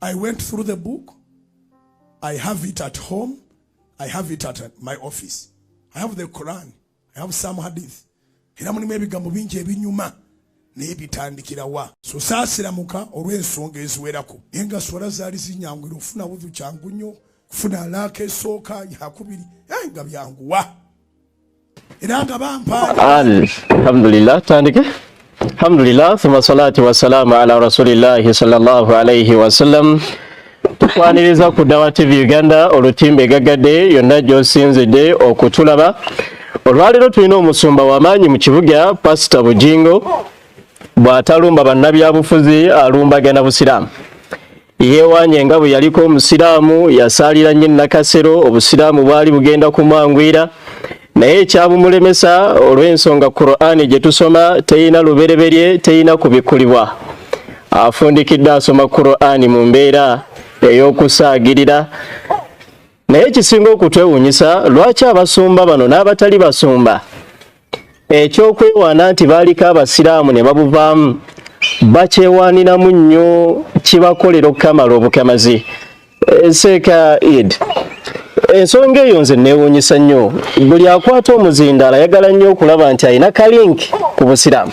I went through the book. I have it at home. I have it at uh, my office. I have the Quran. I have some hadith. Era mulimu ebigambo bingi ebinyuma naye bitandikira wa sosaasiramuka olw'ensonga eziwerako naye nga swala zaali zinyangwira okufuna budhu kyangu nnyo kufuna alaaka esooka yakubiri eh, nga byanguwa era nga bampaa alhamdulillah tandike alhamdulillah thumma salatu wassalamu ala rasulillahi sallallahu alaihi wasallam tukwaniriza ku dawa tv uganda olutimba egagadde yonna gyosinzidde okutulaba olwaleero tulina omusumba wamaanyi mu kibuga pasita bujingo bw'atalumba bannabyabufuzi alumbagana busiraamu Yeewanye nga bwe yaliko Omusiraamu, yasaalira nnyo Nakasero, Obusiraamu bwali bugenda kumwanguyira naye ekyabumulemesa olw'ensonga Kuraani gye tusoma terina lubereberye, terina kubikkulibwa. Afundikidde asoma Kuraani mu mbeera ey'okusaagirira. Naye ekisinga okutwewuunyisa lwaki abasumba bano n'abatali basumba ekyokwewaana nti baaliko abasiraamu ne babuvaamu bakyewaaniramu nnyo kibakolera okukamala obukamazi eh, seeka id ensonga eyo nze neewuunyisa nnyo buli akwata omuzindaalo ayagala nnyo okulaba nti alina kalinki ku busiraamu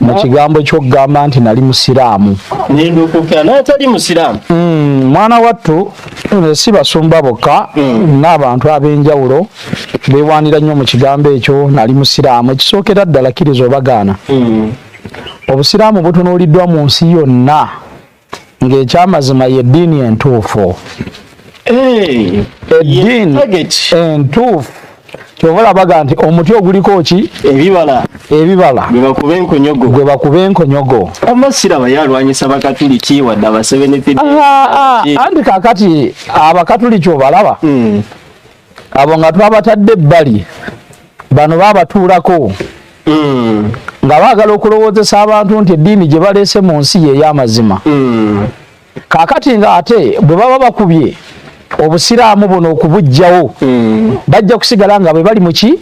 mu kigambo kyokugamba nti nali musiraamu nendukuka naye tali musiraamu hmm, mwana wattu eh, si basumba bokka hmm. n'abantu ab'enjawulo bewaanira nnyo mu kigambo ekyo nali musiraamu ekisookera ddala kkiriza obagaana hmm. obusiraamu butunuuliddwa mu nsi yonna ng'ekyamazima yeddiini entuufu eh, eddiini entuufu kyova olabaga nti omuti oguliko ki ebibala ebibala gwebakuba enkonyogo gwebakuba enkonyogo amasira baye alwanyisa bakatuliki wadde abasebenefid ah, ah, eh. anti kakati abakatuliki obalaba hmm. abo nga twabatadde ebbali bano babatuulako mm. nga baagala okulowoozesa abantu nti eddiini gye baleese mu nsi ye ey'amazima mm. kaakati nga ate bwe baba bakubye obusiraamu buno okubujjawo mm. bajja kusigala nga bwe bali muki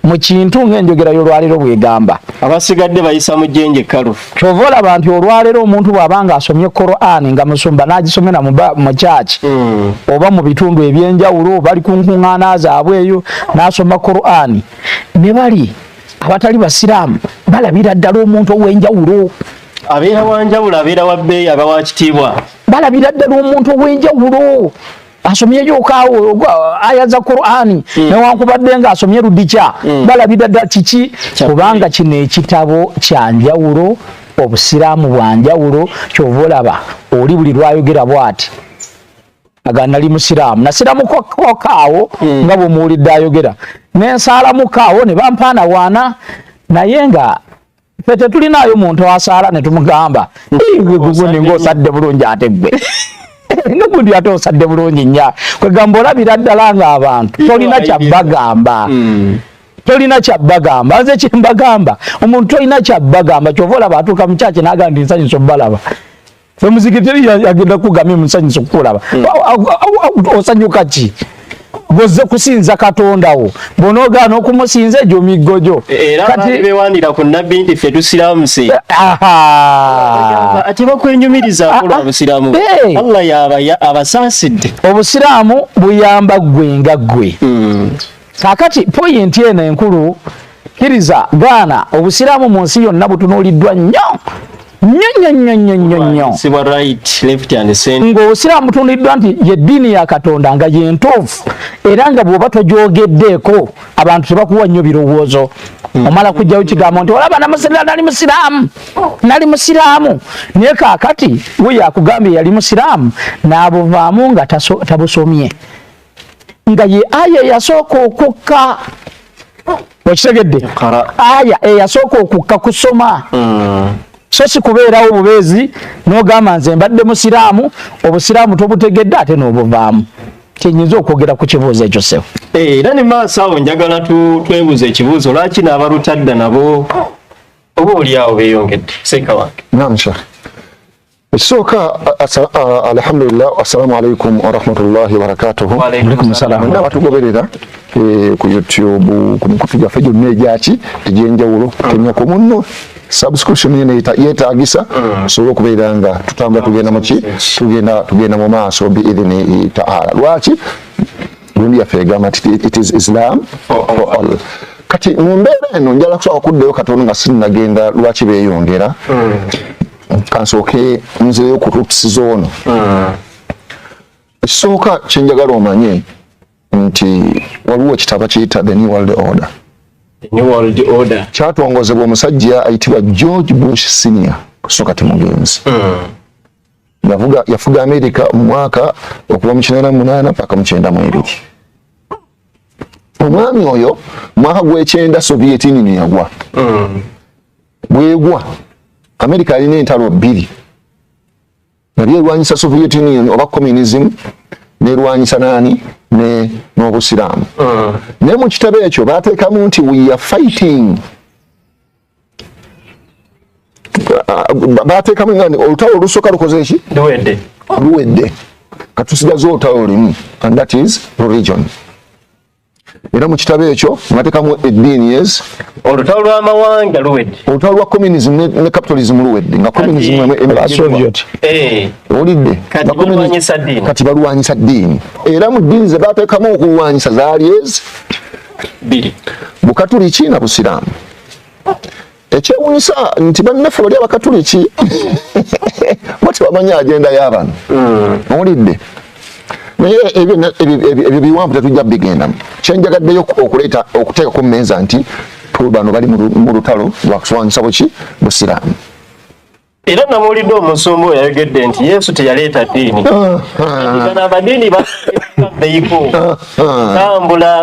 mu kintu ng'enjogera y'olwaliro bw'egamba abasigadde bayisa mu jjenje kalu kyova olaba nti olwaleero omuntu bwaba nga asomye korani nga musumba nagisomera mu kyaki hmm. oba mu bitundu ebyenjawulo bali ku nkuŋŋaana zaabwe eyo nasoma korani ne bali abatali basiraamu balabira ddala omuntu ow'enjawulo abeera wanjawulo abeera wa bbeeyi aba wa kitiibwa balabira ddala omuntu ow'enjawulo asomye yokawo aya za Qur'ani mm. newankubadde nga asomye ludikya mm. balabira dda kiki kubanga kino ekitabo kya njawulo obusiraamu bwa njawulo kyova olaba oli buli lwayogera bwati aga nali musiraamu nasiramukokaawo mm. nga bwemuwulidde ayogera nensaalamukawo ne bampaana waana naye nga fe tetulinaayo muntu asaala ne tumugamba ndiguguni ng'osadde bulungi ate ggwe nogundi ate osadde bulungi nya kwegamba olabira ddala ng'abantu tolina kyabbagamba hmm. tolina kyabbagamba nze kyembagamba omuntu tolina kyabbagamba kyova olaba atuuka mukyaki nagamba ndi nsanyusa obalaba Femuziki teri yagenda kugamya musanyusa okukulaba. Hmm. Osanyuka ki? Goze kusinza Katonda wo. Bonoga no kumusinza ejo migojo. E, era kati bewandira ku nabbi nti fe tusiramu si. Eh, aha. Ati bakwenyumiriza ah, akola obusiramu. Ah, hey. Eh. Allah ya abasaside. Obusiramu buyamba gwe nga gwe. Mm. kakati poyinti eno enkulu kiriza gaana obusiraamu mu nsi yonna butunuuliddwa nnyo ng'obusiraamu butunuliddwa nti yeddiini ya katonda nga yentuufu era nga bw'oba togyogeddeeko abantu tebakuwa nnyo birowoozo hmm. omala kujjawo kigambo nti olaba namusirira nali musiraamu nali musiraamu naye kakati we yakugambye yali musiraamu n'abuvaamu nga tabusomye nga ye aya eyasooka okukka okitegedde aya eyasooka okukka kusoma hmm. so si kubeerawo bubeezi n'ogamba nze mbadde musiraamu obusiraamu tobutegedde ate n'obuvaamu kyenyinza okwogera ku kibuuzo ekyo sebo eh, era ne maaso awo njagala twebuuza ekibuuzo lwaki n'abalutadda nabo oba olyawo beyongedde seeka wange Ekisooka alhamdulillah, assalamu alaikum warahmatullahi wabarakatuhu. Mwenna batugoberera eh, ku YouTube ku mikutu gyaffe gyonna egyaki egy'enjawulo kutemya ku munno subscription yene yetagisa mm. so okubeera nga tutambula tugenda muki tugenda tugenda mu maaso biidhini taala lwaki gundi yaffe egamba nti it is islam for all kati mu mbeera eno njala kusobola okuddayo katono nga sinagenda lwaki beeyongera mm. kansooke nzeeyo ku ruts zoono hmm. ekisooka kyenjagala omanye nti waliwo ekitabo kiyita the new world order kyatongozebwa omusajja ayitibwa george bush senior kusooka timugenzi hmm. yafuga amerika omwaka okuva mu kinana munaana paka mukyenda mwebiri omwami oyo mwaka gwekyenda soviet union yagwa hmm. bwegwa america alina entalo bbiri nabyo erwanyisa soviet union oba communism nerwanyisa nani ne n'obusiraamu mm. naye mu kitabo ekyo bateekamu nti we are fighting uh, bateekamu nga olutalo olusooka lukoze eki luwedde luwedde katusigaza olutalo lulimu and that is religion era mu kitabo ekyo ngatekamu eddiini yes olutalo lw'amawanga luwedde olutalo lwa communism ne capitalism luwedde nga communism eh. owulidde kati balwanyisa ddiini era mu ddiini ze bateekamu okulwanyisa zaali ezi bukatuliki na busiraamu Ekyewunyisa nti bannaffe bali abakatuliki bo tebamanyi agenda y'abantu mm. owulidde naye ebyo biwanvu tetujja bigendamu kyenjagaddeyo okuleeta okuteeka ku mmeeza nti bano bali mu lutalo lwakuswanyisa buki busiraamu era nabuulidde omusumba oyo ayogedde nti yesu teyaleeta ddiini gano amadiini baeiko tambula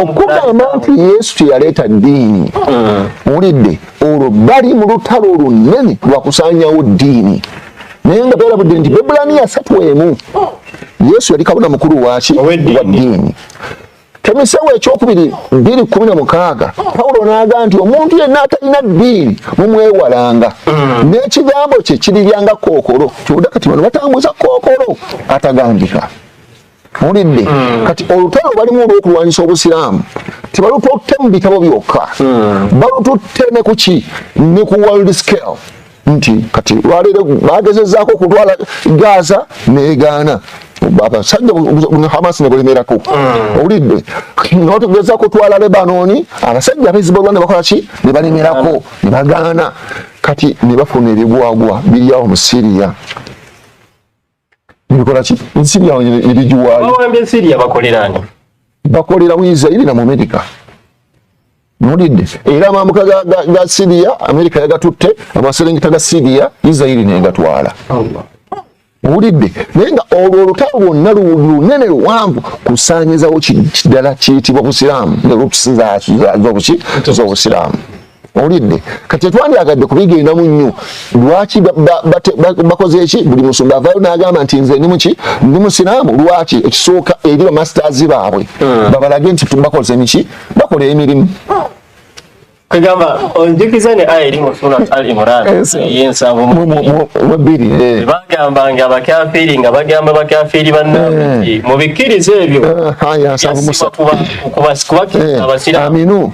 okugamba nti yesu teyaleeta ddiini wulidde olwo bali mu lutalo olunene lwakusanyawo ddiini naye nga beerabudde nti bebulaniya satu emu yesu yali kabona mukulu waki wa ddiini temisewo ekyokubiri biri kumi na mukaaga pawulo naaga nti omuntu yenna atalina ddiini mumwewalanga mm. n'ekigambo kye kiribyanga kookolo kibuda kati bano batambuza kookolo atagambika mulidde mm. kati olutalo balimu olwokulwanyisa obusiraamu tebalututte mu bitabo byokka mm. balututte ne kuki ne ku world scale nti kati lwaleero bagezezaako okutwala gaza negaana abasajja hamas nebulemerako mm. owulidde notugeza kutwala lebanoni abasajja abezibulwa nebakolaki nebalemerako nebagaana kati nebafuna ebigwagwa biryawo mu syria Nibikola ki? Ensiri yawe eri giwaali. Bawambye ensiri yabakolera ani? Bakolera mu Israeli na mu Amerika. Mulidde. Era amamuka ga, ga, ga Syria, Amerika yagatutte, amaserengeta ga Syria, Israeli negatwala. Allah. Mulidde. Naye nga olwo olutalo lwonna lunene luwanvu kusaanyizawo kiddala kiyitibwa Busiraamu, ne lukusinza z'obuki z'Obusiraamu. owulidde kati etwandyagadde kubigendamu nnyo lwaki bakoze eki buli musumba avayo nagamba nti nze ndi muki ndi musiraamu lwaki ekisooka eri bamasters baabwe hmm. babalage nti bakoze miki bakola emirimu kagamba onjukiza ne aya eri mu surat al imran eyensabumubiri eh. eh. bagamba nga bakafiri nga bagamba bakafiri bannabiki eh. mu bikkiriza ebyo ah, ah, kubasiramu abasiramu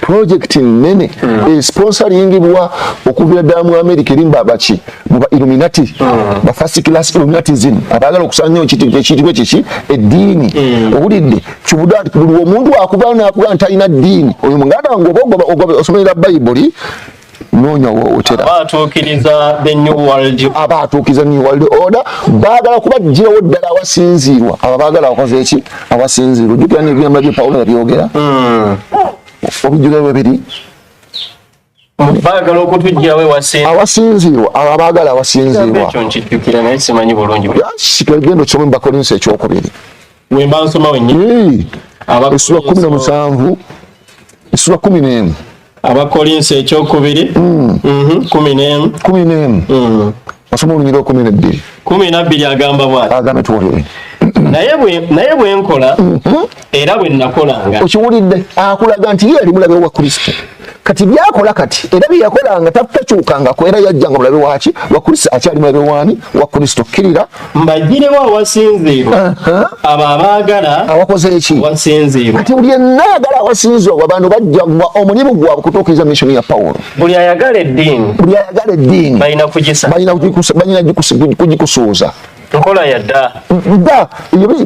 pulojekiti nnene hmm. esponsoringibwa okuviira ddala mu amerika erimba baki muba illuminati hmm. ba first class illuminatism abaagala okusanyawo ekitibwa kiki eddiini hmm. owulidde kibuda nti buli omuntu akuvayo nakugaa nti talina ddiini oyo muganda wange oba ogoba osomerera bayibuli noonya wootera abaatuukiriza the new world abaatuukiriza new world order baagala kubajjirawo ddala awasinziirwa abo baagala akoze eki awasinziirwa ojjukira nebigambo bye pawulo yabyogera hmm. obijjuga bwebiri baagala okutujjawo ewasinzi awasinziirwa abo abaagala awasinziirwa ekyo nkijjukira naye simanyi bulungi kitwegenda okisoma mu bakolinso ekyokubiri wemba nsoma wennyini essula kumi nomusanvu essula kumi n'emu abakolinsi ekyokubiri hmm. mhm, kumi n'emu kumi n'emu hmm. osoma olunyiriro kumi nebbiri kumi nabbiri agamba bwati agamba tuwulire naye bwenkola mhm. era bwenakolanga okiwulidde akulaga nti ye ali mulabe wa kristo kati byakola kati era byeyakolanga takyukangako era yajjanga mulabe waki wakulisa akyali mulabe wani wa kristo kkirira mbagirewo awasinziirwa abo abaagala awakoze eki wasinziirwa kati buli enna ayagala awasinziirwa abantu bajja gwa omulimu gwabwe kutuukiriza misioni ya pawulo buli ayagala eddiini buli ayagala eddiini balina kugikusuuza nkola yadda dda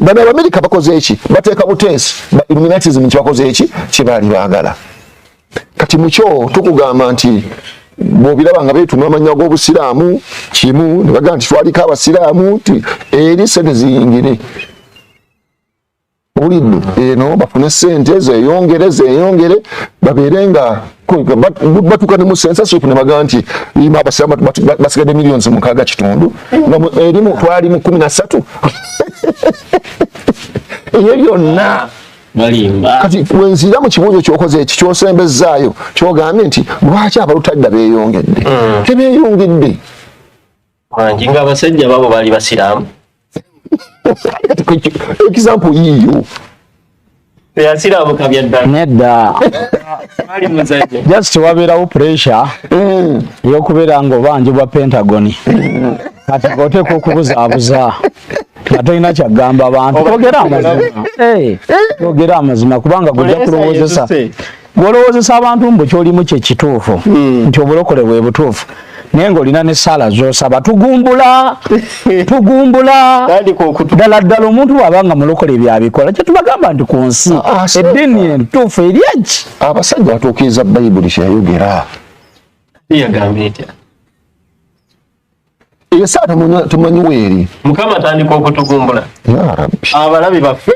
bano abamerika bakoze eki bateeka buteesi ba illuminatism nti bakoze eki kyebaali baagala kati mukyo tukugamba nti bwobiraba nga betuma amanya g'obusiraamu kimu nebagaa nti twaliko abasiraamu nti eri sente ziyingire owulidde eno bafune sente zeyongere zeyongere babeere nga batuka ne musensasopu ne baga nti ima abasiramu basigadde millions mukaaga kitundu erimu twali mu kumi na ssatu ebyo byonna kati wenzira mu kibuuzo kyokoze eki kyosembezzaayo kyogambye nti lwaki abalutadda beyongedde mm. tebeyongedde wangi nga abasajja babo baali basiraamu example yiyo teyasiramuka byaddala nedda just wabeerawo pressure mm. eyokubeera nga obanjibwa pentagoni kati goteeka okubuzaabuza nga tolina kyagamba abantu ogera amazima eh, ogera amazima kubanga gujja kulowozesa gwolowozesa abantu mbu kyolimu kyekituufu hmm. nti obulokole bwe butuufu naye ngaolina ne saala zosaba tugumbula tugumbula ddala ddala omuntu bwaba nga mulokole byabikola kyetubagamba nti ku nsi ah, ah, eddiini entuufu eryaki abasajja batuukiriza bayibuli kyeyayogera yagambye etya eyo saa tumanyi weeri mukama atandika okutugumbula abalabi baffe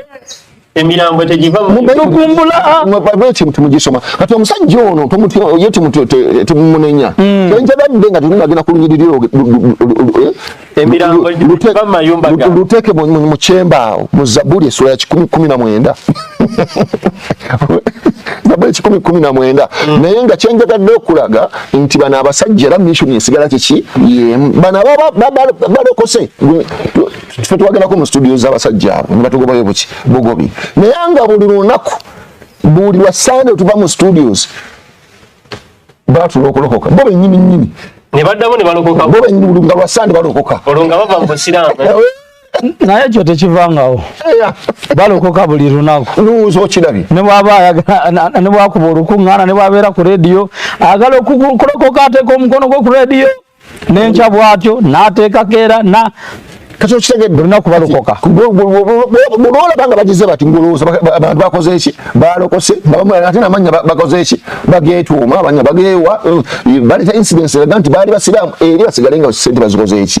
emirambo tegivamubekintu mugisoma kati omusajja ono ye temumunenya hmm. enjabadde nga tunagenda ku lunyiriri luteeke mu kyembaawo mu zabuli esula ya kikumi kumi na mwenda nabwe ekikumi kumi na mwenda mm. naye nga kyenjagadde okulaga nti bano abasajja era mission esigala kiki yemu bano balokose fe twagendako mu studio zabasajja abo nebatugobayo buki bugobi naye nga buli lunaku buli lwa sande otuva mu studios batula okulokoka bo benyini nyini nebaddamu nebalokoka bo benyini nga lwa sande balokoka olwo nga bava mu busiraamu naye ekyo tekivangawo balokoka buli lunaku nuwuza okirabye nebwaba nebwakuba olukuŋŋaana nebwabeera ku rediyo agala okulokoka ateeka omukono gwe ku rediyo nenkya bwatyo nateekako era na kati okitegedde olina kubalokoka bwolaba nga bagize bati ngolowooza abantu bakoze eki balokose ate namanya bakoze eki bagetuuma abanya bagewa eh, baleta incidence eraga nti baali basiraamu eri basigale nga sente bazikoze eki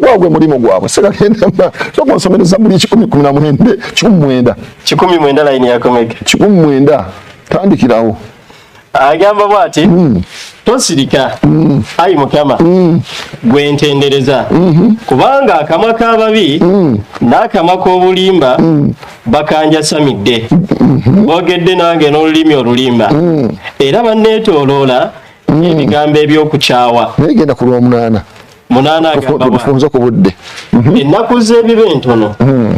gwagwe mulimu gwabwe soka nsomere zabuli kikumi kumi na mwenda kikumi mwenda kikumi mwenda layini yakomege kikumi mwenda tandikirawo agamba bwati mm. tosirika mm. ayi mukama mm. gwe ntendereza mm -hmm. kubanga akamwa k'ababi mm. n'akamwa k'obulimba mm. bakanjasamidde mm -hmm. boogedde nange n'olulimi olulimba mm. era banneetooloola mm. ebigambo eby'okukyawa naye genda ku lwomunaana munaana agambafunze ku budde mhm. ennaku z'ebiba entono mm.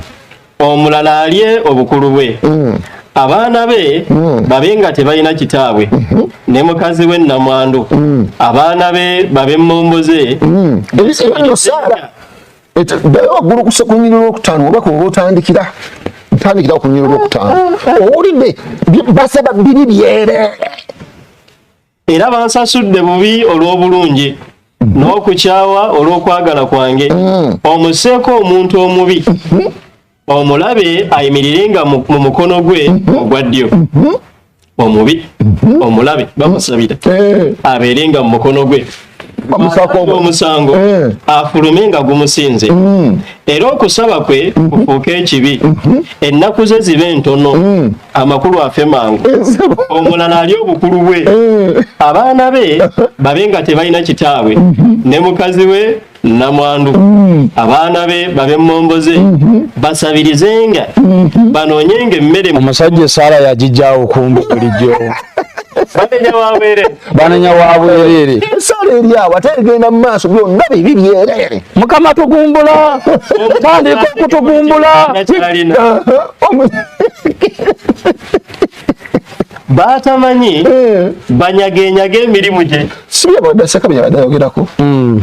omulala alye obukulu bwe mm. abaana be mm. babe nga tebalina kitaabwe mhm. ne mukazi we nnamwandu mm. abaana be babe mmombo ze ddayo waggulu ku sekunyiri lwokutaano oba kuba otandikira tandikira okunyiri lwokutaano owulidde basaba biri byereere era bansasudde bubi olw'obulungi n'okukyawa olw'okwagala kwange mm. omuseeko omuntu omubi mm-hmm. omulabe ayimirire nga mu mukono gwe mm-hmm. ogwa ddyo mm-hmm. omubi omulabe bamusabira eh. abeere nga mu mukono gwe omusango eh. afulume nga gumusinze hmm. era okusaba kwe hmm. kufuuke ekibi hmm. ennaku ze zibe ntono amakulu afe mangu eh, omulala ali obukulu bwe eh. abaana be babe nga tebalina kitaabwe ne mukazi we namwandu abaana be babe mumomboze basabirizenga banoonyenga emmere omusajja esaala yagijjawo kumbi bulijjo banenya wa bwerere ensala eri awo ate egenda mu maaso byonna bibi byerere mukama tugumbula otandika okutugumbula batamanyi eh. banyagenyaga emirimu gye sibyebadasakabyabayogerako hmm.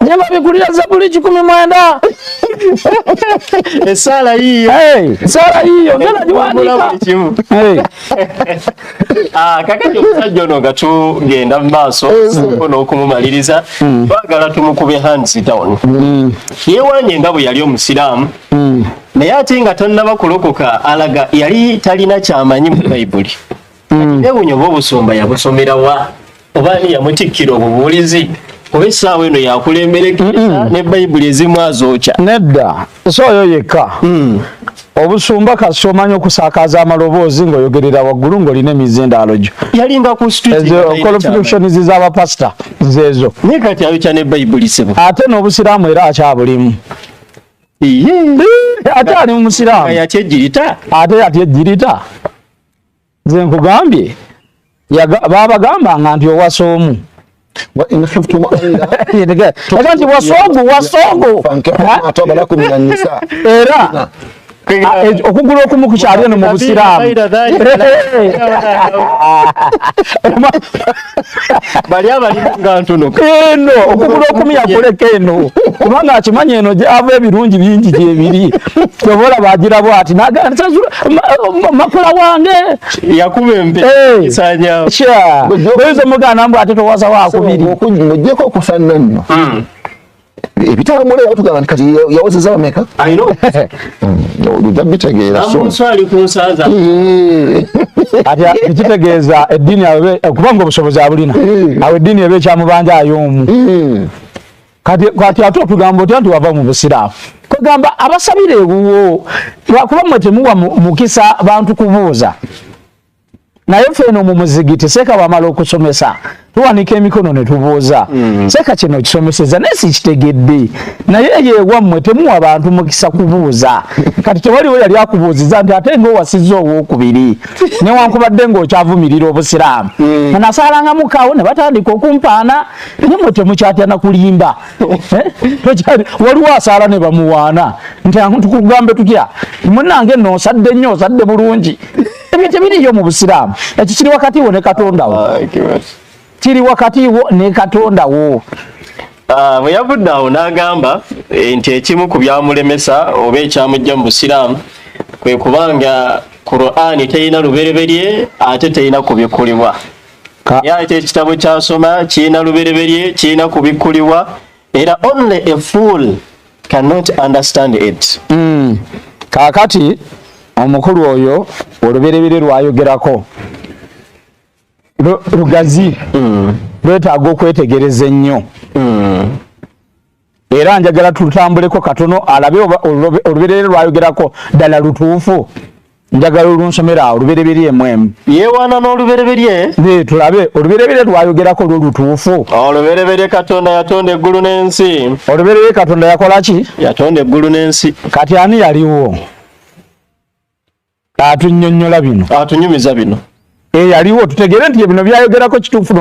Ne babigulira Zabuli kikumi mwenda. Esala hiyo. Hey, esala hiyo. Ngena jiwandika. Hey. Ah, kakati omusajja ono nga tugenda mu maaso soko n'okumumaliriza hmm. twagala tumukube hands down hmm. yeewanye nga bwe yali omusiraamu hmm. naye ate nga tannaba kulokoka alaga yali talina kyamanyi mu bayibuli mm. newunya oba obusumba yabusomera wa oba ani yamutikkira obubuulizi oba essaawa eno yakulembera ekisa ne bayibuli ezimu azookya nedda so oyo yekka mm. obusumba kasi omanya okusakaza amaloboozi ngaoyogerera waggulu ngaolina emizindaalo gyo yalingakuolofitutions zabapasita zeezo naye kati ayokya ne bayibuli sebo ate n'obusiraamu era akyabulimu ate ali mumusiraamu ate yati ejjirita nze nkugambye babagambanga nti owasa omu nti wasogu wasogu era Ah, eh, okugula okumu kukyali eno mu busiraamu bali abali nga ntono eno okugula okumi yakuleka eno kubanga akimanyi eno gyava ebirungi bingi gyebiri kyobola bagira bwati makula wange yakuba empeoyinza omuganda mbu ate towaza wakubiri mujeko okufanna nno hmm. ebitabo mule yatugamba nti kati yawozeza bameka oludabbitegeeramuswali ku nsaza kitegeeza eddiini okuba nga obusobozi abulina awo eddiini eba ekyamubanja ayoomu kati ate otugamba otya nti wava mu busiraamu kwegamba abasabira ewuwo lwakuba mwe temuwa mukisa bantu kubuuza naye ffe eno mu muzigiti seeka bamala okusomesa tuwanika emikono ne tubuuza mm. seeka kino kisomeseza naye sikitegedde naye yewammwe temuwa bantu mukisa kubuuza kati tewaliwo yali akubuuziza nti ate ngaowasizza owokubiri newankubadde ngaokyavumirira obusiraamu mm. anasalangamukawo ne batandika okumpaana naye mwe temukyatya nakulimba eh? waliwo asaala ne bamuwaana nti tukugambe tutya munange noosadde nnyo osadde bulungi ebyo tebiriyo mu busiraamu ekyo kiri wakati wo ne katonda wo ah, kiri wakati wo ne katonda wo ah, bwe yavudde awo n'agamba eh, nti ekimu ku byamulemesa oba ekyamujja mu busiraamu kwe kubanga qurani terina lubereberye ate terina kubikkulibwa yate ekitabo kyasoma kirina lubereberye kirina kubikkulibwa era only a fool cannot understand it mm. kakati omukulu oyo oluberebere lwayogerako lugazi mm. lwetaaga okwetegereza ennyo mm. era njagala tutambuleko katono alabe olubereere lwayogerako ddala lutuufu njagala olunsomera awo lubereberye mwemu yewaana n'olubereberye ne tulabe olubereberye lwayogerako lwo lutuufu olubereberye katonda yatonda eggulu n'ensi olubereberye katonda yakola ki yatonda eggulu n'ensi kati ani yaliwo atunnyonnyola bino atunyumiza bino eyaliwo eh, tutegere nti ebino byayogerako kituufu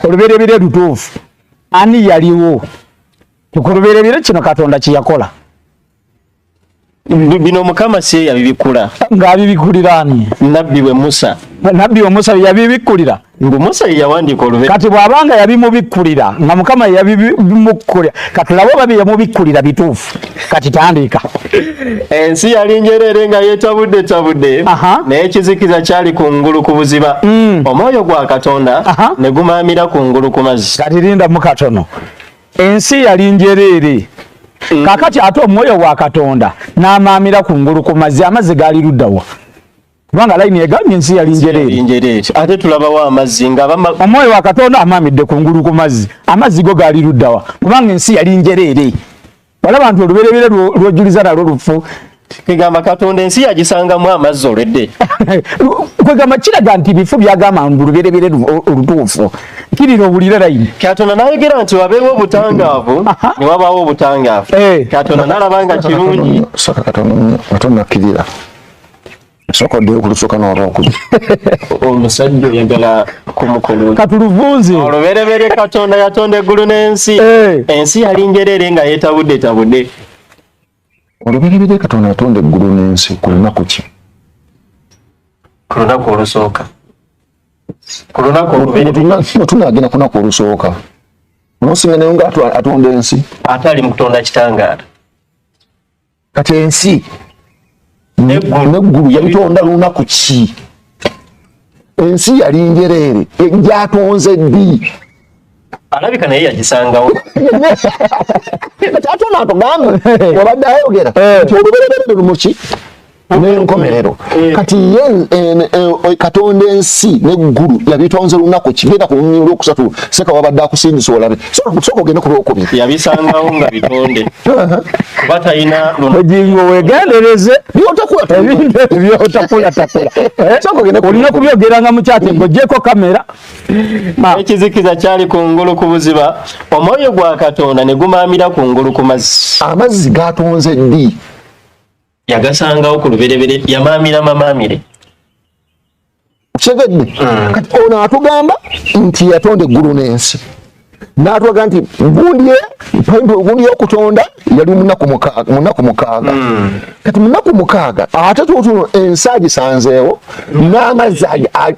olubereberye lutuufu ani yaliwo kulubereberye kino katonda kyeyakola bino mukama si yabibikula ng'abibikulira ani nabbi we musa nabbi we musa yabibikkulira ngu musa yeyawandiika olube kati bw'abanga yabimubikkulira nga mukama yabimukkulira kati laba oba byeyamubikkulira bituufu kati tandiika ensi yali njereere nga yetabudde tabudde naye ekizikiza kyali ku ngulu ku buziba mm. omwoyo gwa katonda ne gumaamira ku ngulu ku mazzi kati linda mu katono ensi yali njereere mm. kakati ate omwoyo wa katonda n'amaamira ku ngulu ku mazzi amazzi gaali luddawa kubanga layini egambye ensi yali njereere ate tulabawo amazzi nga omwoyo wa katonda amaamidde ku ngulu ku mazzi amazzi go gaali luddawa kubanga ensi yali njereere balaba nti olubereberye lwojuliza nalwo lufu kwegamba katonda ensi yagisangamu amazzi olwedde kwegamba kiraga nti bifu byagamba ngu lubereberye olutuufu kirira obulire layini katonda nayogera nti wabeewo obutangaavu ne wabaawo obutangaavu eh. katonda nalaba nga kirungi katonda akkirira sooka oddeyo ku lusooka n'olwokubiri omusajja oyagala kumukolera katuluvunze olubereberye katonda yatonda eggulu n'ensi eh. ensi yali njerere nga yetabudde tabudde olubereberye katonda yatonda eggulu n'ensi ku lunaku ki ku lunaku olusooka ku lunaku oluberetunagenda ku lunaku olusooka nosinga naye nga atonda ensi ate ali mu kutonda kitangaala kati ensi neggulu yabitonda lunaku ki ensi yali njereere egyatonze ddi alabika naye yagisangawo ate onaatugamba wabadde ayogera eh. nti olubereberere lumuki n'enkomerero eh. kati ye eh, eh, katonda ensi neggulu yabitonze lunaku kigenda ku lunyini olwokusatu seka wabadde akusindisa olabe soka ogende ku lwokubiri yabisangawo nga bitonde kuba talina ojingo wegendereze byotakulatakula olina kubyogeranga mukyate ngojeko kamera ah. ekizikiza kyali ku ngulu ku buziba omwoyo gwa katonda ne gumaamira ku ngulu ku mazzi amazzi gatonze ddi yagasangawo ku luberebere yamaamira mamaamire kitegedde mm. kati ono atugamba nti yatonda eggulu n'ensi natwaga nti gundi gundi yokutonda yali munaku mukaaga mm. kati munaku mukaaga ate tutuno ensi agisanzeewo n'amazzi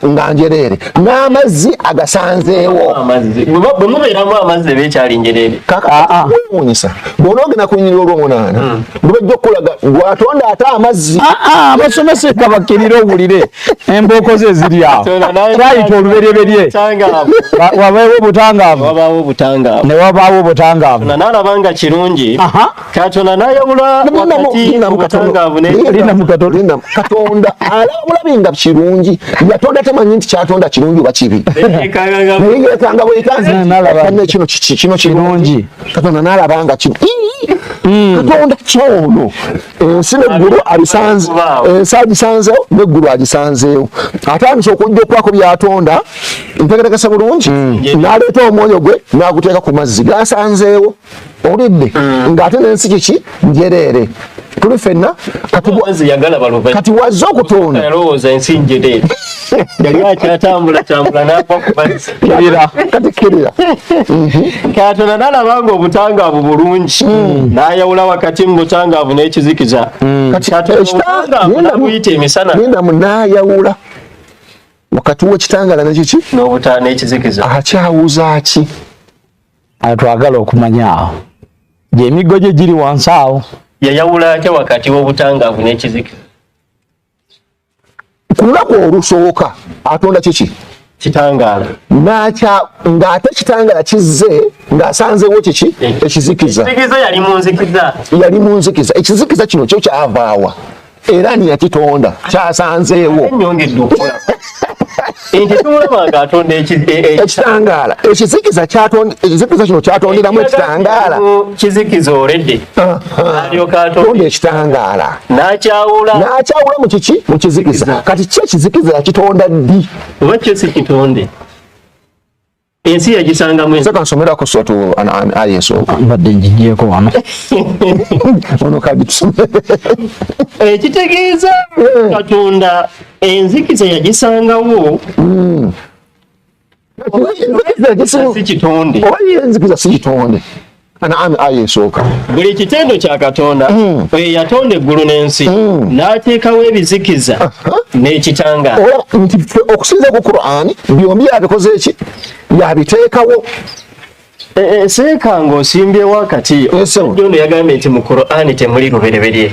nga njereere n'amazzi agasanzeewo bwe mubeeramu amazzi eba ekyali njereere kakawunyisa ah, ah. bwona ogenda kunyirira olwomunaana hmm. lubajja okukulaga gwatonda ate amazzi ah, abasomesa ekabakkirira owulire embooko ze ziri awo kyayita oluberyeberye wabaewo obutangaavu ne wabaawo obutangaavu nalaba nga kirungi Katonda n'ayawula wakati mu butangaavu n'ekibi. Katonda alabula binga kirungi yatonda tamanyi nti kyatonda kirungi oba kibi naye yekanga bwekanzi kino kiki kino kirungi katonda n'alaba nga kibi hmm. katonda kyono ensi neggulu abisanze ensi agisanzewo neggulu agisanzeewo atandise okujja okwako byatonda ntegerekese bulungi hmm. n'aleeta omwoyo gwe n'aguteeka ku mazzi gasanzeewo oludde mm. ng'ate n'ensi kiki njereere tuli fenna kati wazze okutonda kati kirira mhm. katonda nalaba nga obutangaavu bulungi mm. nayawula wakati mu butangaavu n'ekizikiza mm. katiobuyita emisana genda munayawula wakati wekitangala nekiki n'obutaana ekizikiza akyawuza ki Ayo twagala okumanya awo gyemiggo gye giri wansi awo. Yayawula atya wakati w'obutangaavu n'ekizikiza? Ku lunaku olusooka atonda kiki? Kitangaala. N'akya ng'ate kitangaala kizze ng'asanzeewo kiki? Ekizikiza. Ekizikiza yali mu nzikiza. Yali mu nzikiza. Ekizikiza kino kyo kyavaawa. era ani yakitonda kyasanzeewo nti tumulabanga atonda e- e- ekitangaala ekizikiza ekizikiza kino kyatonderamu ekitangaala kizikiza olede alyoka atonda ekitangaala nakyawula nakyawula mu kiki mu kizikiza kati ki ekizikiza yakitonda ddi oba kyo si kitonde ensi yagisangamu ensi kansomera ku sotu an an ayi so mbadde njijeko wano ono kadi tusomere ekitegeeza eh, eh. katonda enzikiza yagisangawo hmm. si kitonde oba enzikiza si kitonde Kanaani aya esooka. Buli kitendo kya Katonda mm. oyo yatonda eggulu n'ensi mm. n'ateekawo ebizikiza uh -huh. n'ekitangaala. Ola oh, nti ffe okusinza ku Kuraani byombi yabikoze eki yabiteekawo e, e, eseeka ng'osimbyewo akati omusajja ono yagambye nti mu Kuraani temuli lubereberye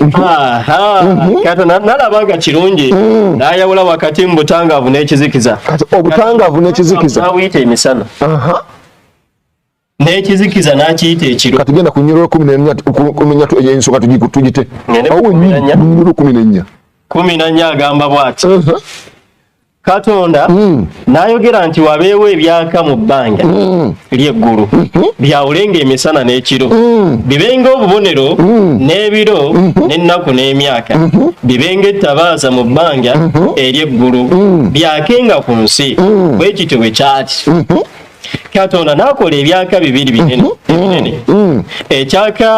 Mhm. kata nalaba nga kirungi mm. nayawula wakati mu butangaavu n'ekizikiza obutangaavu n'ekizikiza awuyita emisana n'ekizikiza n'akiyita ekiro kati genda ku nyiroro kumi nenya eyensonga tugite awo nyiroro kumi nenya kumi nanya agamba bwati katonda mm. nayogera nti wabeewo ebyaka mu bbanga mm. lyeggulu mm -hmm. byawulenga emisana n'ekiro mm. bibenga obubonero mm. n'ebiro mm -hmm. n'ennaku n'emyaka mm -hmm. bibenga ettabaaza mu bbanga mm -hmm. ery'eggulu mm. byakenga ku nsi mm. bwe kityo bwe kyati mm -hmm. katonda nakola ebyaka bibiri binene mm -hmm. mm. ekyaka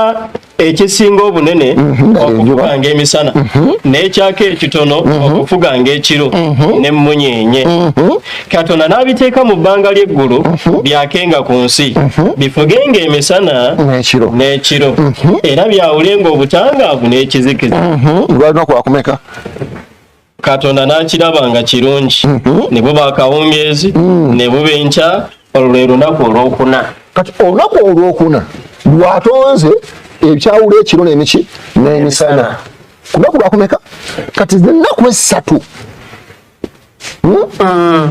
ekisinga obunene mhm, okufuganga emisana mhm. n'ekyaka ekitono mhm. okufuganga ekiro n'emmunyeenye katonda n'abiteeka mu bbanga ly'eggulu byakenga ku nsi bifugenga emisana n'ekiro era byawulenga obutangaavu n'ekizikiza lwalina kwakumeka katonda n'akiraba nga kirungi mhm. ne buba akawungeezi mm. ne buba enkya olwo lwe lunaku olwokuna kati olunaku olwokuna lwatonze ebyawula ekiro nemiki n'emisana ku lunaku lwakumeka kati ennaku essatu hmm? mm.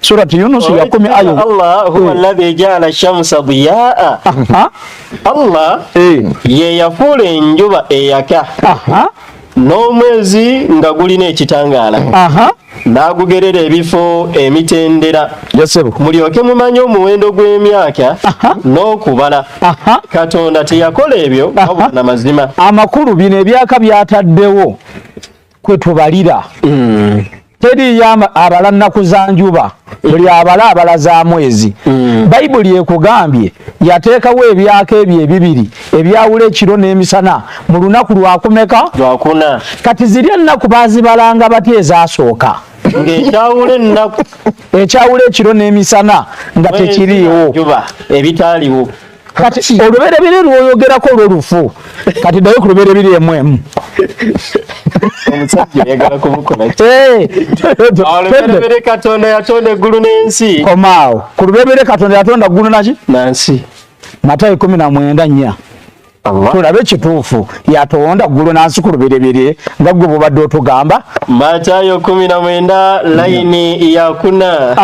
Surati Yunus ya kumi ayo. Allah huwa eh. alladhi ja'ala shamsa diyaa. Allah eh. ye yafuula enjuba eyaka n'omwezi nga gulina ekitangaala n'agugerera ebifo emitendera mulyoke mumanye omuwendo gw'emyaka n'okubala katonda teyakola ebyo wabula na mazima amakulu bino ebyaka byataddewo kwe tubalira mm. teriyo abala nnaku za njuba buli abala abala za mwezi mm. bayibuli ekugambye yateekawo ebyaka ebyo ebibiri ebyawula ekiro n'emisana mu lunaku lwakumeka lwakuna kati ziri ennaku bazibalanga batya ezasooka ng'ekyawula ennaku ekyawula ekiro n'emisana nga tekiriiwo ebitaaliwo kati olubereberye lwoyogerako lwo lufu kati dayo ku lubereberye emwemu omusajja oyagala kumukola eh, olubereberye katonda yatonda eggulu n'ensi komaawo ku lubereberye katonda yatonda ggulu naki nansi matayo kumi na mwenda nnya tulabe kituufu yatonda ggulu nansi ku lubereberye nga gwe bubadde otugamba matayo kumi na mwenda layini yakuna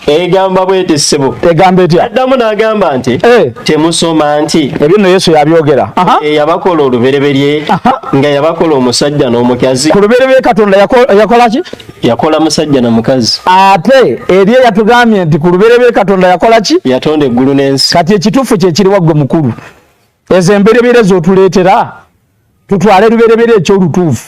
egamba bwete ssebo egamba etya addamu n'agamba nti eh. temusoma nti ebyo nno yesu yabyogera eh, yabakola olubereberye nga yabakola omusajja n'omukazi ku lubereberye katonda yakola ki yakola musajja na mukazi ate eri eyatugambye nti ku lubereberye katonda yakola ki yatonda eggulu n'ensi kati ekituufu kyekiri waggwe mukulu ezo embereberye zotuleetera tutwale lubereberye ekyolutuufu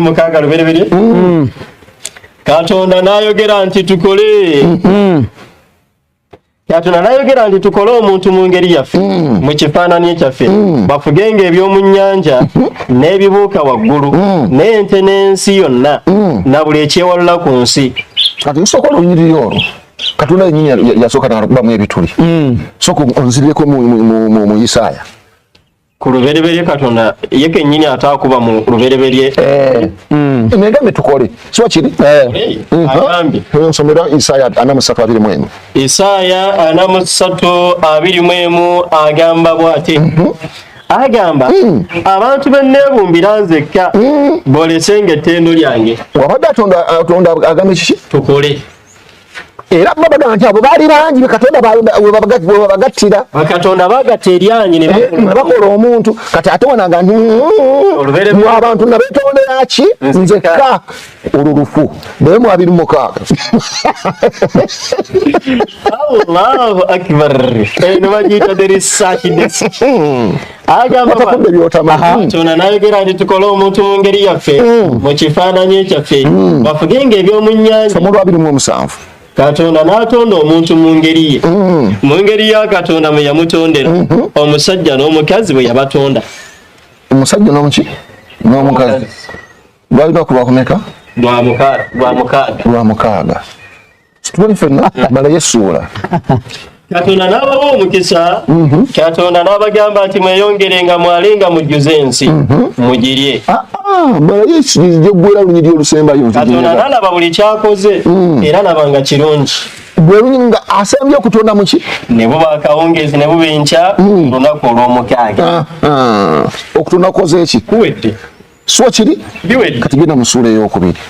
mukaaga lubereberye mm-hmm. katonda nayogera nti tukole mm-hmm. katonda nayogera nti tukole omuntu mu ngeri yaffe mm-hmm. mu kifaanani ekyaffe bafugenga eby'omu nnyanja n'ebibuuka waggulu n'ente n'ensi yonna na buli ekyewalula ku nsi kati nsooka olunyiriri olwo katonda yenyini yasooka nakubamu ebituli sooka onzirireko mu isaaya ku lubereberye katonda ye kennyini ataakuba mu lubereberye eh. mm. negambe tukole kiba kiri eh. mm. agambye eh, nsomera isaaya ana musatu abiri mwemu isaaya ana musatu abiri mwemu agamba bwati mhm. agamba mm. abantu beneebumbira nzekka bolesenga ettendo lyange wabadde atonda agambye kiki tukole era baba bagamba nti abo baali bangi bekatonda webabagattira bakatonda bagatta eryanyi nebakola eh, omuntu kati ate wanaga ntimu abantu nabetondera ki nzekka olwo lufu naye mu abiri mukaaga allahu akbar eno bagiyita derisakidesi kyona nayogera nti tukole omuntu mu ngeri yaffe mm. mu kifaananyi ekyaffe mm. bafugenga ebyomu nyanja katonda n'atonda omuntu mu ngeri ye mm. mu ngeri ya katonda mwe yamutondera mm-hmm. omusajja n'omukazi bwe yabatonda omusajja n'omuki n'omukazi lwalina kulwakumeka lwa mukaaga situbuli fenna mala yesuula katonda n'abawa omukisa mhm. katonda n'abagamba nti mweyongere nga mwale nga mujjuze ensi mhm. mugirye ah, ah, malayo ekigizija okubeera lunyiri olusembayo katonda n'alaba buli kyakoze mm. era laba nga kirungi bwerunyiri nga asembye okutonda muki ne buba akawungeezi ne buba enkya mm. olunaku olw'omukaaga ah, okutonda kukoze eki kuwedde suwa kiri kati genda mu ssuula ey'okubiri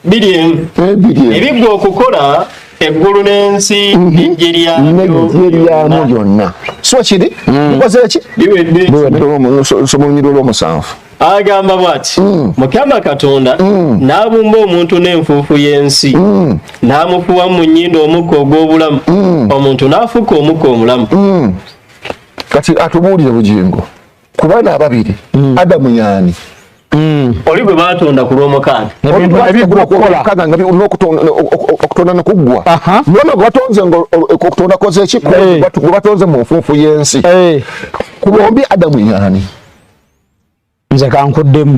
biri emu eh, ebigwa okukola eggulu n'ensi mhm. eggye lyamu lyonna suwa kiri mm. nkozera ki biweddeolunyirwa olw'omusanvu agamba bwati mm. mukama katonda mm. n'abumba omuntu n'enfuufu y'ensi mm. n'amufuwa mu nyindo omukka ogw'obulamu omuntu n'afuka omukka omulamu kati atubuulire bugingo ku baana ababiri mm. adamu yaani mm. oli gwe batonda ku lwomukaaga okutonda nekuggwa nona gwebatonze okutonda kozeki gwebatonze mu nfunfu y'ensi ku bombi adamu yaani nze kankuddemu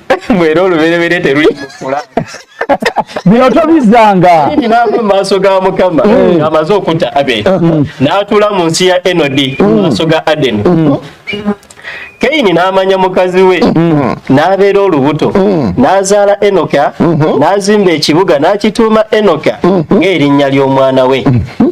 mwera oluberebere teruli mukula bino tobizanga binava mu maaso ga mukama mm. amaze okutta abel mm. n'atuula mu nsi ya enodi mu mm. maaso ga adeni keyini n'amanya mukazi we n'abeera olubuto n'azaala enoka mm-hmm. n'azimba ekibuga n'akituuma enoka mm-hmm. ng'erinnya ly'omwana we mm-hmm.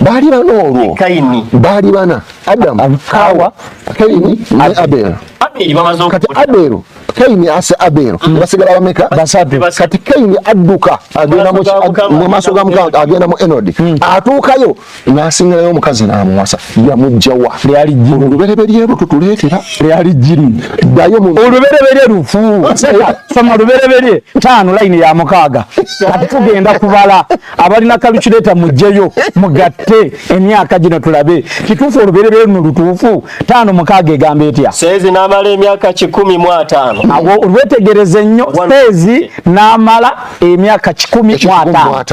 baali bana olwo baali bana adamu kawa kaini ne abel kati abel kaini ase abel mm. basigala bameka basatu kati kaini adduka agenda mu maaso ga mukama agenda mu enodi mm. atuukayo n'asingirayo omukazi n'amuwasa yamujjawa olubereberye lwo tutuleetera lyali jjiri ddayo mu olubereberye lufu soma olubereberye taano layini ya mukaaga kati tugenda kubala abalina kalukireeta mujjeyo mugatte emyaka gino tulabe kituufu olubereberye luno lutuufu taano mukaaga egamba etya seezi n'amala emyaka kikumi mu ataano awo olwetegereze nnyo seezi n'amala emyaka kikumi mu ataano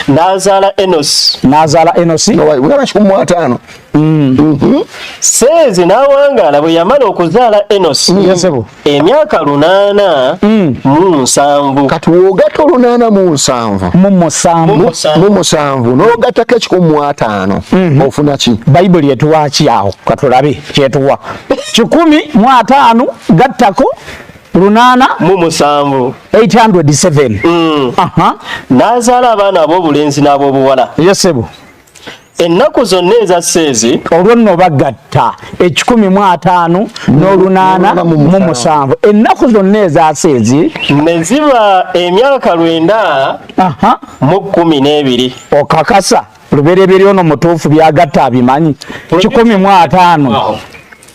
n'azaala enosi n'azaala enosi kikumi mu ataano mm. mm-hmm. seezi n'awangaala bwe yamala okuzaala enosi mm. emyaka lunaana mm. mu nsanvu kati wogata olunaana mu nsanvu mu musanvu nogatako ekikumu mu ataano mhm. ofuna ki bayibuli etuwaki awo katulabe kyetuwa kikumi mu ataano gattako lunaana mu musanvu 807 mm. nazaala abaana ab'obulenzi n'ab'obuwala yesebo ennaku zonna eza seezi olwo nno bagatta ekikumi mu ataano n'olunaana mu musanvu ennaku zonna eza seezi ne ziba emyaka lwenda mu kkumi n'ebiri okakasa lubereberye ono mutuufu byagatta abimanyi kikumi mu ataano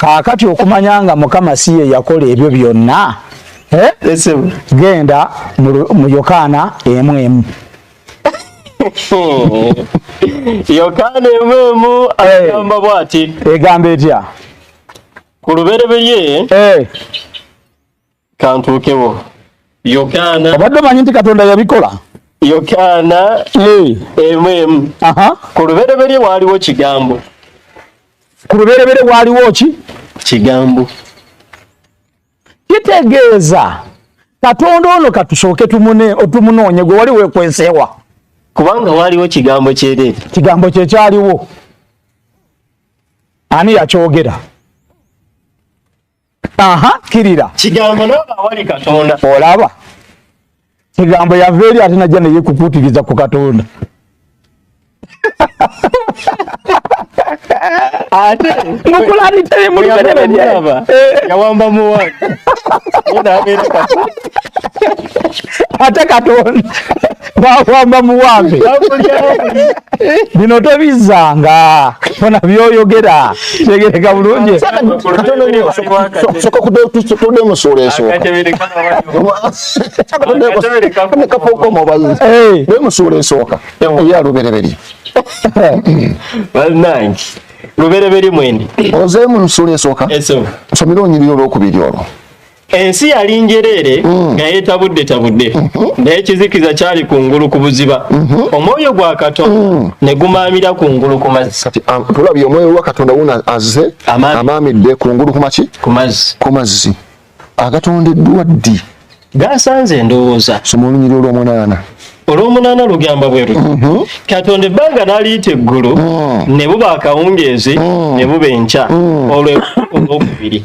kaakati okumanya nga mukama si ye yakola ebyo byonna eh? genda mu yokaana emu emu yokaana emu emu agamba eh. bwati egamba etya ku lubereberye eh. kantuukewo yokaana obadde omanyi nti katonda yabikola yokaana emu emu ku lubereberye waaliwo kigambo ku lubereberye waaliwo ki kigambo kitegeeza katonda ono katusooke tumunoonye gwe wali wekwenseewa kubanga waaliwo kigambo kyereere kigambo kyekyaliwo ani yakyogera aha kirira kigambo naba awali katonda olaba kigambo yava eri ate najja naye kukutiriza ku katonda ate mukulabitee mulubereberyeaba eh. yawamba muwani ate katonda wakwamba muwambe bino tobizzanga fona byoyogera kyegereka bulungi soka kude musuula esookaemusuula esooka eya lubereberye banange lubereberye mwendi ozeemu musuula esooka nsomire onyirira olwokubiri olwo ensi yali njereere mm. nga yetabudde tabudde mm-hmm. naye ekizikiza kyali ku ngulu ku buziba mm-hmm. omwoyo gwa katonda mm. ne gumaamira ku ngulu ku mazzi kati um, tulabye omwoyo gwa katonda wona azze amaamidde ku ngulu kumaki ku mazzi agatondeddwa ddi gasanze endowooza soma olunyiri olw'omunaana olw'omunaana lugamba bwe luti mm-hmm. katonda ebbanga n'aliyita eggulu mm. ne buba akawungeezi ne buba enkya olw'okubiri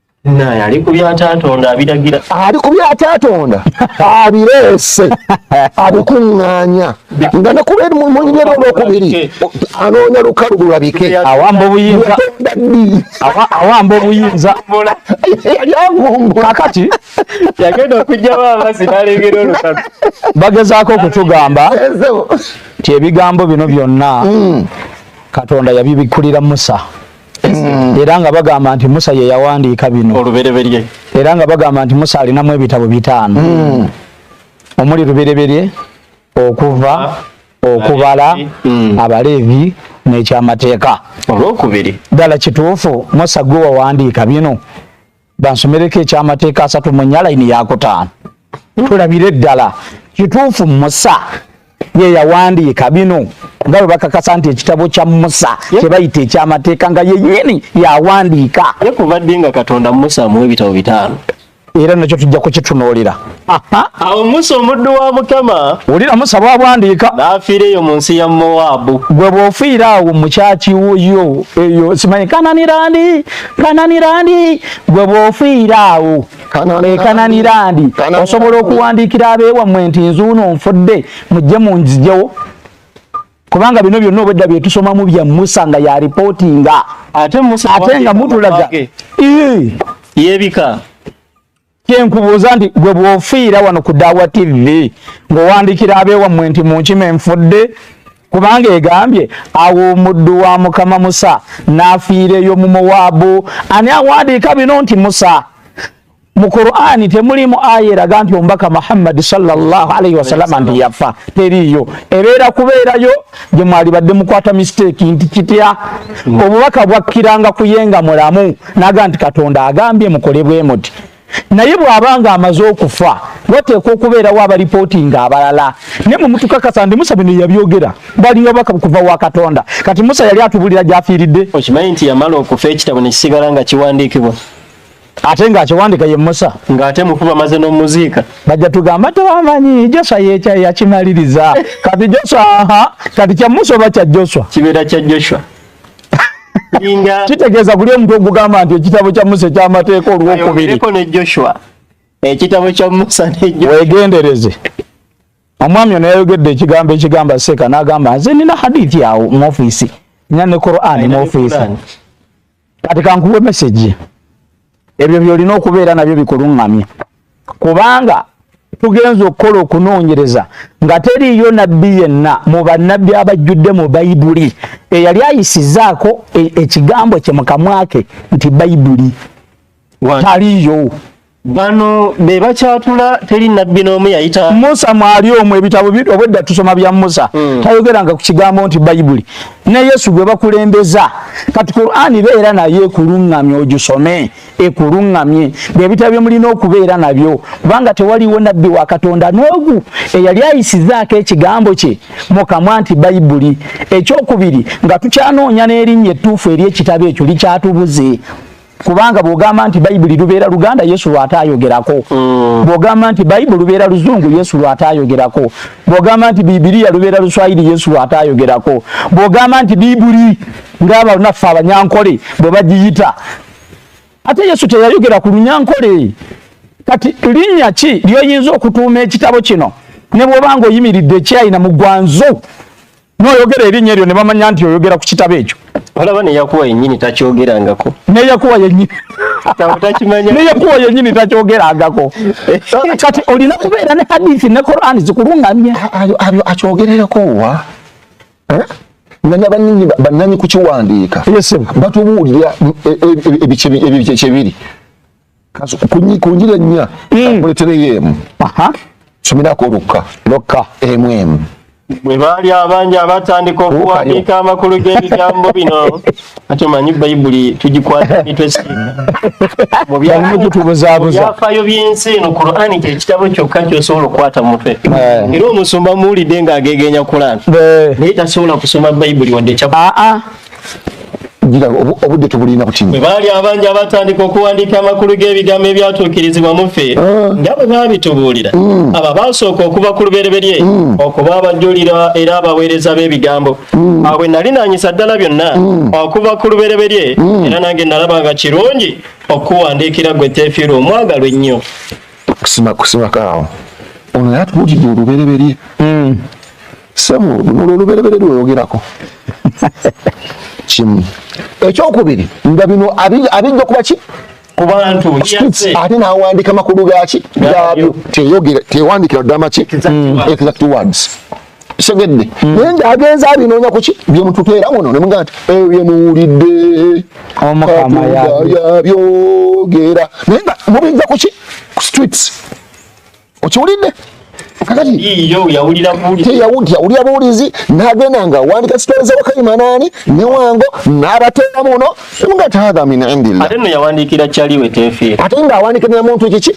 naye ali ku byatatonda abiragira ali ku byatatonda abireese abikuŋŋaanya nga nekuba eri munyumyera olwokubiri anoonya lukalu bulabike awamba obuyinza awamba obuyinza kakati yagenda okugjawo amazzi nalengera olukalu bagezaako okutugamba nti ebigambo bino byonna mm. katonda yabibikkulira musa Mm. era nga bagamba nti musa ye yawandiika bino olubereberye era nga bagamba nti musa alinamu ebitabo bitaano mm. omuli lubereberye okuva ah. okubala mm. abaleevi n'ekyamateeka olwokubiri ddala kituufu musa gwe wawandiika bino bansomereko ekyamateeka asatu mu nya layini yakutaano tulabire eddala kituufu musa ye yawandiika bino nga bwe bakakasa nti ekitabo kya musa kyebayita ekyamateeka nga yenyini yawandiika ye kuva ddi nga katonda musa mu ebitabo bitaano era nakyo tujja kukitunuulira awo musa omuddu wa mukama wulira musa bwabwandiika n'afiira eyo mu nsi ya mowaabu gwe bw'ofiira awo mukyaki wuyo eyo simanyi kananirandi kananirandi gwe bw'ofiira awo ekananirandi eh, osobola okuwandiikira abeewammwe nti nzuuno nfudde mujje munzijewo kubanga bino byonna obwedda byetusomamu bya musa nga yalipotinga ate nga mutulaga yebika kyenkubuuza nti gwe bwofiira wano ku dawa tv ng'owandikira abeewammwe nti munkima enfudde kubanga egambye awo omuddu wa mukama musa n'afiireyo mu mowaabu ani awandiika bino nti musa mu qurani temulimu aya eraga nti omubaka muhammadi sallallahu alaihi wasalama nti yafa teriiyo ebeera kubeerayo gye mwalibadde mukwata mistake nti kitya obubaka bwakkiranga kuyenga mulamu naga nti katonda agambye mukole bwe muti naye bw'aba nga amaze okufa wateekwa okubeerawo abalipooti nga abalala naye mwe mutukakasa nti musa bino yabyogera balinga baka kuva wa katonda kati musa yali atubulira gy'afiiridde okimanyi nti yamala okufa ekitabo ne kisigala nga kiwandiikibwa ate nga akiwandika ye musa nga ate mufu bamaze nomuziika bajja tugamba tewamanyi joswa yekya yakimaliriza kati joswa aha kati kya musa oba kya joswa kibeera kya joshua kitegeeza kuli omuntu ogugamba nti ekitabo kya musa ekyamateeka olwokubiri ne joshua ekitabo kya musa wegendereze omwami ono yayogedde ekigambo ekigamba seeka n'agamba nze nina hadithi awo mu ofiisi nina ne qur'an mu ofiisi kati kankuwe message ebyo byolina okubeera nabyo bikulungamye kubanga tugenza okukola okunoonyereza nga teriiyo nabbi yenna mu bannabbi abajjudde mu bayibuli eyali ayisizaako e, ekigambo kye mukamwake nti bayibuli taliiyo bano be bakyatula teri nabbi n'omu yayita musa mwali omu ebitabo obwedda tusoma bya musa mm. tayogeranga ku kigambo nti bayibuli ne yesu gwe bakulembeza kati qurani beera nayo ekuluŋŋamye ogisome ekuluŋŋamye byebitabo byemulina okubeera nabyo kubanga tewaliwo nabbi wa katonda n'ogu eyali ayisizaako ekigambo kye mukamwa nti bayibuli ekyokubiri nga tukyanoonya n'erinnya ettuufu eri ekitabo ekyo likyatubuze kubanga bwogamba nti bayibuli lubeera luganda yesu lwate ayogerako mm. bwogamba nti bayibuli lubeera luzungu yesu lwate ayogerako bwogamba nti bibiriya lubeera luswayiri yesu lwate ayogerako bwogamba nti bibuli ngaabanaffe abanyankole bwe bagiyita ate yesu teyayogera ku lunyankole kati linnya ki lyoyinza okutuuma ekitabo kino ne bwoba nga oyimiridde ekyayina mugwanzu noyogera erinnya eryo ne bamanya nti oyogera ku kitabo ekyo olaba ne yakuwa yennyini takyogerangako ne yakuwa yennyini ne yakuwa yennyini takyogerangako kati olina kubeera ne hadithi ne korani zikulungamye abyo akyogererako wa eh? nanya banini bananyi kukiwandiika batubuulira e, e, e, ebyo kyebiri kunjira ennya hmm. kuletereyo emu somerako olukka lokka emu emu bwe baali abangi abatandika okuwandiika amakulu g'ebigambo bino ati omanyi bayibuli tugikwata mitwe simubyafaayo by'ensi eno kurani kyekitabo kyokka kyosobola okukwata mu mutwe eh. era omusumba muwulidde ng'agegeenya kurani eh. naye tasobola kusoma bayibuli wadde kya ah, ah. obudde tubulina butini bwe baali abangi abatandika okuwandiika amakulu g'ebigambo ebyatuukirizibwa mufe ah. nga bwe baabitubuulira mm. abo baasooka okuva ku lubereberye mm. okuba abajulira era abaweereza b'ebigambo mm. awo bwe nali nanyisa ddala byonna okuva ku lubereberye era nange nalaba nga kirungi okuwandiikira gwe teefiirwa omwagalwa ennyo kusima kusimako awo ono yatubuulidde olubereberye Sebo, luno lwe lubereberye lwoyogerako. Kimu. Ekyokubiri, nga bino abijja kuba ki? kubantu ate nawandika makulu gaki gabyo teyogera tewandikira ddama ki exact words segedde mm. naye nga agenza abinoonya kuki byemututeera muno ne mugamba nti ebyo byemuwulidde omukama yabyogera naye nga mubijja kuki ku streets okiwulidde yawulira buwulizi nagenda nga wandika sitole zewakaimanaani newango nabateera muno nga taadha min indillaate nga awandikira namuntu kiki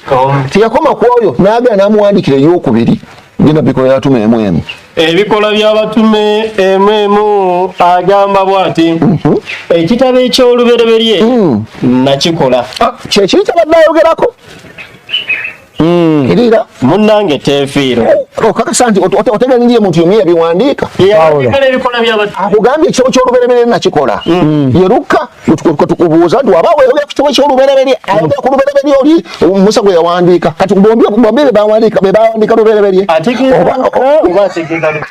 teyakoma ku oyo nagenda namuwandikira eyokubiri genda bikola yatuma emu emu ebikola byabatume emu emu agamba bwati mhm. ekitabo ekyolubereberye mm. nakikola ah, kyekiri kyabadde ayogerako Hmm. Kirira munnange teefiiro oh, okakasa nti otegeera muntu yomu yabiwandiika akugambye ekitabo ky'olubereberye nakikola hmm. yeruka tukubuuza nti waba weyogera ku kitabo ky'olubereberye hmm. ayogera ku lubereberye oli musa gwe yawandiika kati bombi bebawandiika lubereberye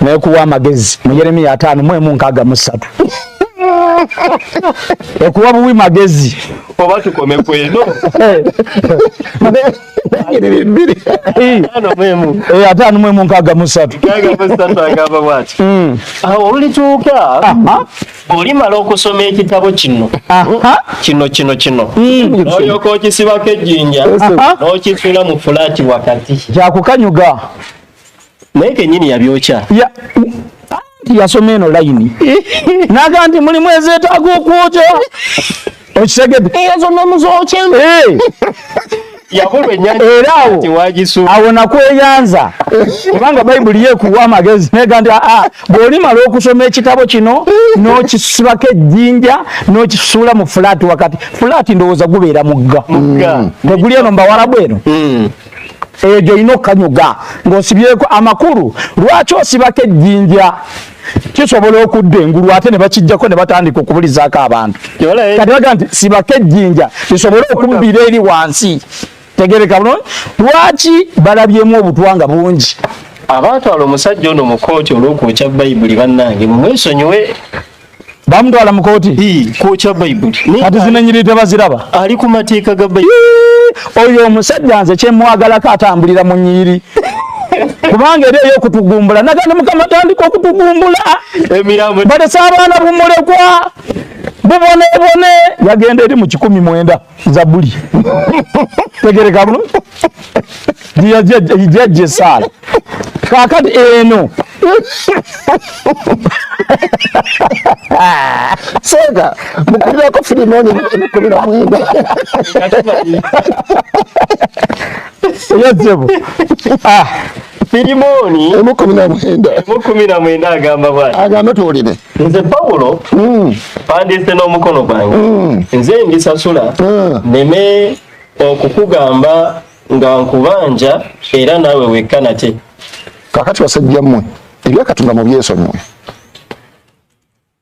naye kuwa amagezi mu yeremiya ataano mu emu nkaaga mu ssatu ekuwa buwi magezi oba tukome kweno ataano mu emu nkaaga mu ssatu agamba bwati hmm. awo olituuka olimala okusoma ekitabo kino kino kino kino hmm. olyoka okisibako ejjinja n'okisula mu fulaati wakati kyakukanyuga naye kenyini yabyokya ya yasoma eno layini naga nti mulimu ezeetaaga okwokya okitegedde era awo awo nakweyanza kubanga bayibuli yekuwa amagezi nega nti aa bw'olimala okusoma ekitabo kino n'okisibako ejjinja n'okisuula mu fulaati wakati fulaati ndowooza gubeera mugga teguli eno mbawalabu eno hmm. eyo gyolina okukanyuga ng'osibyeko amakulu lwaki osibako ejjinja kisobola okudda engulu ate ne bakijjako ne batandika okubulizaako abantu kati baga nti sibako ejjinja lisobole okubbira eri wansi tegereka bulungi lwaki balabyemu obutwa nga bungi abaatwala omusajja ono mu kooti olw'okwokya bayibuli bannange mumwesonyiwe bamutwala mu kooti kwokya bayibuli kati zinenyiri tebaziraba ali ku mateeka ga bayibuli oyo omusajja nze kyemwagalako atambulira mu nyiri kubanga eri eyokutugumbula nagana mukama tandika okutugumbula balese abaana bumulekwa bubonebone yagenda eri mu kikumi mwenda zabuli tegereka bulo jajja esaala kakati eno senga mukulirako firimu eno emukulira mwenda eyajjebo Firimoni emu kumi na mwenda emu kumi na mwenda agamba bwati agamba tuwulire nze Pawulo mm. pandiise n'omukono gwange mm. nze ndisasula mm. neme okukugamba nga nkubanja era naawe wekka nate kakati basajja mmwe ebyakatonda mu byesonyiwe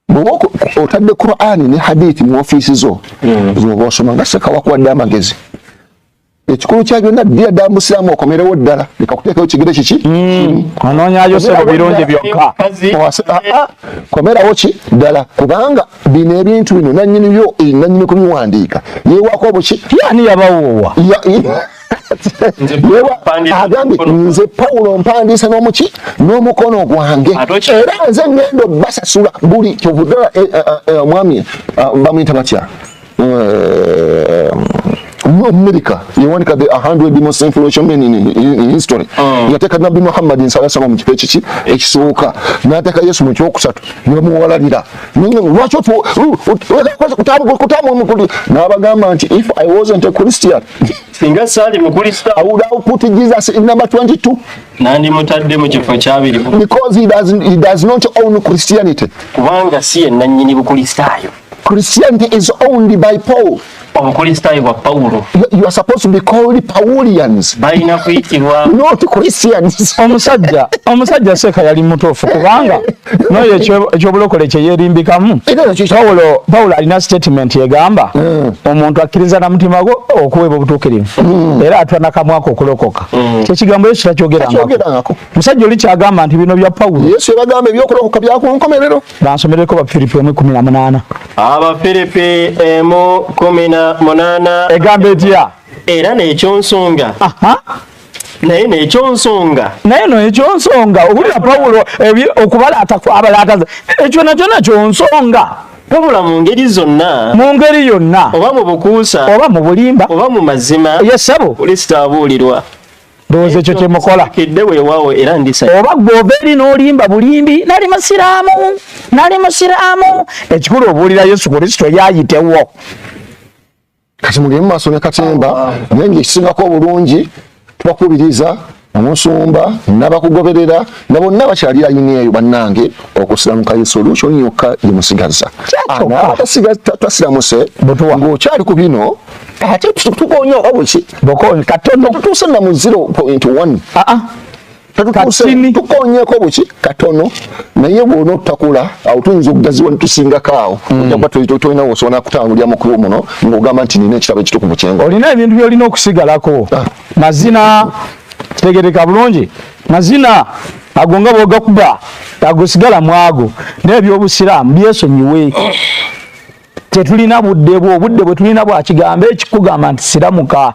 bwoba otadde qurani ne hadithi mu ofiisi zo mm. zoba osoma nga seka wakuwadde amagezi ekikulu kya byonna ddira ddala musiraamu okomerewo ddala leka kuteekayo kigere kiki mm. onoonyayo sebo birungi byokka ah, ah. komerawo ki ddala kubanga bino ebintu bino nanyini byo eh, nanyini kubiwandiika yewaako buki yani yabawoowa agambye nze pawulo mpandiise n'omuki n'omukono gwange era nze ngendo basasula buli kyovudala eh, eh, eh, omwami bamuyita batya america yewandika the 100 most influential men in, in, in history mm. yateeka nabbi muhammadi nsalasama mu kifo ekiki ekisooka n'ateeka yesu mu kyokusatu nebamuwalalira lwaki kutambula n'abagamba nti if i wasn't a christian singa saali mukulisa i would have put jesus in number 22 nandi mutadde mu kifo kyabiri because he does, he does not own christianity kubanga si yenanyini bukulistaayo christianity is owned by paul obukulistaayo bwa pawulo you are supposed to be called paulians balina kuyitibwa not christians omusajja omusajja seeka yali mutuufu kubanga noyo ekyobulokole kyeyerimbikamu pawulo pawulo alina statement egamba hmm. omuntu akkiriza na mutima gwo okuweebwa obutuukirivu hmm. era atwa nakamwako okulokoka hmm. kyekigambo yesu takyogerangako musajja oli kyagamba nti bino bya pawulo yesu yabagamba ebyokulokoka byakunkomerero bansomereko bafiripi emu kumi na munaana abafiripi emu kumi na munaana egamba etya era nekyonsonga naye nekyo nsonga naye no ekyo nsonga owulira pawulo okubalaata kwabalaataza ekyo nakyo nakyo nsonga wabula mu ngeri zonna mu ngeri yonna oba mu bukuusa oba mu bulimba oba mu mazima yesabo kristo abuulirwa ndowooza ekyo kyemukola kidde weewaawo era ndisa oba gwova eri n'olimba bulimbi nali musiraamu nali musiraamu ekikulu obuulira yesu kristo yaayitewo kati mugende mu maaso ne katemba naye ngaekisingako obulungi tubakubiriza omusumba nabakugoberera nga bonna bakyali ayini eyo bannange okusiramuka ye solution yokka yemusigaza tasiramuse ngaokyali ku bino ate tukonya oba bweki katono tutuuse na muziro point one ah, ah. katini tukonyeko buki katono naye bwona otakula awo tuyinza okugaziwa netusingako awo mm. ojakuba tolina wosobola kutangulira mukulu muno ngaogamba nti nina ekitabo ekituku mukyenga olina ebintu byolina okusigalako ah. mazina tegereka bulungi mazina ago nga bwogakuba ago sigala mwago naye byobusiraamu byesonyiwe tetulina budde bwo obudde bwetulina bwakigambo ekikugamba nti siramuka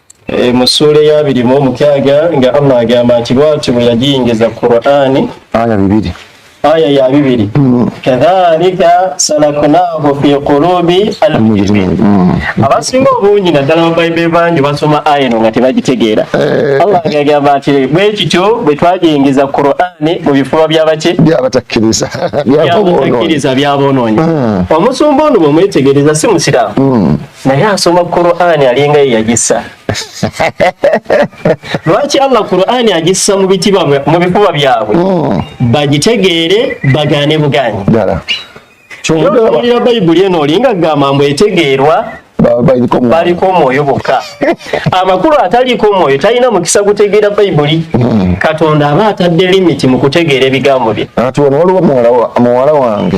Eh, mu ssuula eyabiri mu omukyaga nga allah agamba nti bwatyo bwe yagiyingiza qurani aya bibiri aya ya bibiri hmm. kadhalika salakunahu fi qulubi almujrimin hmm. abasinga obungi naddala babaibuli bangi basoma aya eno nga tebagitegeera eh. allah agagamba nti bwe kityo bwe twagiyingiza qurani mu bifuba byabaki byabatakkiriza byaboonoonyi hmm. omusumba ono bwe mwetegereza si musiraamu naye asoma Qur'ani alinga yeyagisa lwaki Allah Qur'ani agissa mu bitiba mu bifuba byabwe hmm. bagitegeere bagaane bugaanyi kyowulira bayibuli eno olinga gamba mbu etegeerwa baliko omwoyo bokka amakulu ataliiko omwoyo talina mukisa gutegeera bayibuli hmm. katonda aba atadde limiti mu kutegeera ebigambo bye ati wano waliwo muwala wange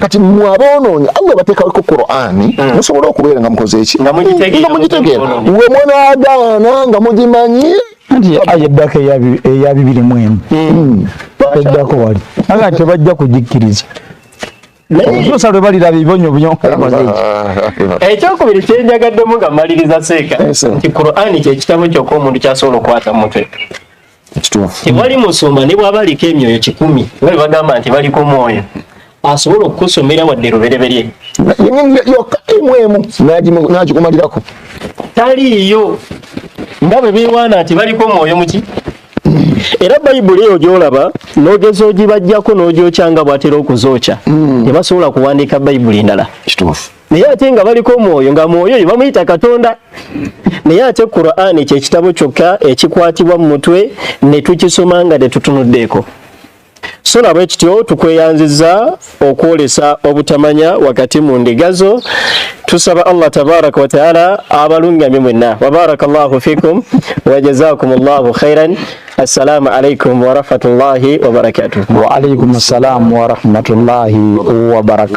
kati mwe aboonoonyi allah bateekaweko qurani hmm. musobole okubeera nga mukoze eki nga mugitegeera we munaagaana nga mugimanyi anti aya eddako eya bibiri mu emu hmm. eddako wali aga tebajja kugikkiriza oluusa lwe baliraba ebibonyo byonkoze ekyokubiri kyenjagaddemu nga maliriza seeka nti qurani kyekitabo kyokka omuntu kyasobola okwata mutwe tewali musumba ne bwaba aliko emyoyo kikumi nga bagamba nti baliko mwoyo asobola okukusomera wadde lubereberye yokka emu emu nagikumalirako taliiyo nga bwe bewaana nti baliko mwoyo muki era bayibuli eyo gyolaba nogeza ogibajjako nogyokyanga bwatera okuzokya hmm. tebasobola kuwandiika bayibuli endala naye ate nga baliko omwoyo nga mwoyo oyo bamuyita katonda naye ate qurani kyekitabo kyokka ekikwatibwa mu mutwe ne tukisoma nga tetutunuddeeko so nabwe kityo tukweyanziza okwolesa obutamanya wakati mu ndiga zo tusaba allah tabaraka wataala abalungamye mwenna wabaraka llahu fikum wajazakum llahu khairan assalamu alaikum warahmatullahi wabarakatuh waalaikum assalamu warahmatullahi wabarakatu